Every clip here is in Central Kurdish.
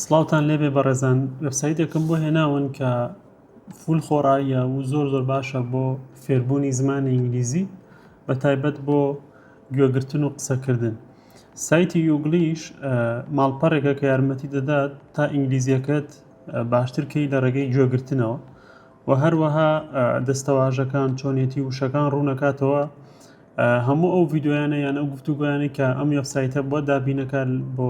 سڵاوتان لێبێ بەڕێزان وێبسایتێکم بۆ هێناون کە فول خۆڕاییە و زۆر زۆر باشە بۆ فێربوونی زمانی ئینگلیزی بە تایبەت بۆ گوێگرتن و قسەکردن سایتی یوگلیش ماڵپەڕێکە کە یارمەتی دەدات تا ئینگلیزیەکەت باشترکەی لە ڕێگەی گوێگرتنەوە و هەروەها دەستەواژەکان چۆنێتی وشەکان ڕوونەکاتەوە هەموو ئەو یددیویانە یان ئەو گفتوگویانی کە ئەم وێبسایتە بۆ دابینەکە بۆ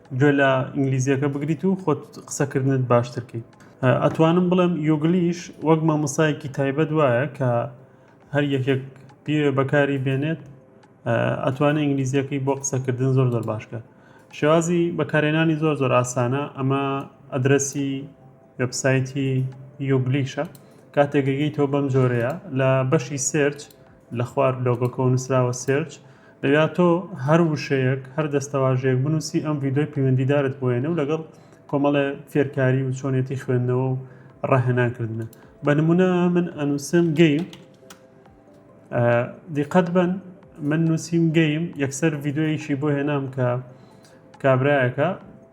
گوێ لە ئینگلیزیەکە بگریت و خۆت قسەکردنت باشتر کەیت ئەتوانم بڵێم یۆگلیش وەک مامۆسایەکی تایبەت وایە کە هەر یەکێک پێ بەکاری بێنێت ئەتوانێت ئینگلیزیەکەی بۆ قسەکردن زۆر زۆر باشکە شێوازی بەکارێنانی زۆر زۆر ئاسانە ئەمە ئەدرسی وبسایتی یۆگلیشە کاتێکگەی تۆ بەم جۆرەیە لە بەشی سرچ لە خوار لۆگۆکەوە نوسراوە Search دەبا تۆ هەر وشەیەک هەر دەستەواژەیەک بنوسی ئەم ڤیدۆی پیوەندیدارت بۆێنە و لەگەڵ کۆمەڵێ فێرکاری و چۆنێتی خوێندنەوە و ڕاهێنانکردنە بە نمونە من ئەنووسم گەیم دیقەت بن من نووسیم گەیم یەکسەر ڤیددیویشی بۆ هێنام کە کابراایەکە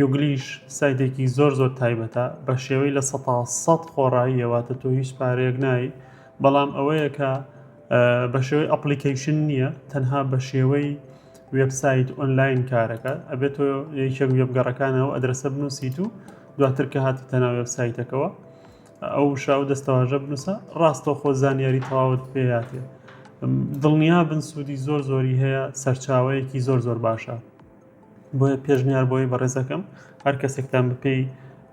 یوگلیش سایتێکی زۆر زۆر تایبەتە بەشێوەی لە سەتا سەد خۆڕاییە واتە تۆ هیچ پارەیەک نایی بەڵام ئەوەیە کە بەشێوەی ئەپلیکەیشن نییە تەنها بەشێوەی وبسایت ئۆنلاین کارەکە ئەبێت تۆ یەکێک وێبگەڕەکانەوە ئەدرسە بنووسیت و دواتر کە هاتی تەنا وبسایتەکەەوە ئەو شاو دەستەواژە بنووسە ڕاستە خۆ زانیاری تەواوت پێیاتێ دڵنیا بن سوودی زۆر زۆری هەیە سەرچاوەیەکی زۆر زۆر باشە. بۆیە پێشنیار بۆی بەڕێزەکەم هەر کەسێکتان بپێی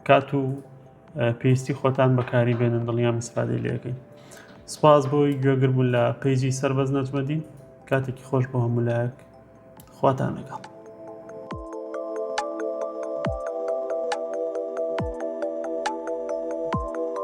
کات و پێویستی خۆتان بەکاری بێنن دڵنیام ئیسفادەی لەکەین سپاس بۆی گوێگر بوو لە پیجی سربەز نەجمەدین کاتێکی خۆش بۆ هەموو لایەک خواتان لەگەڵ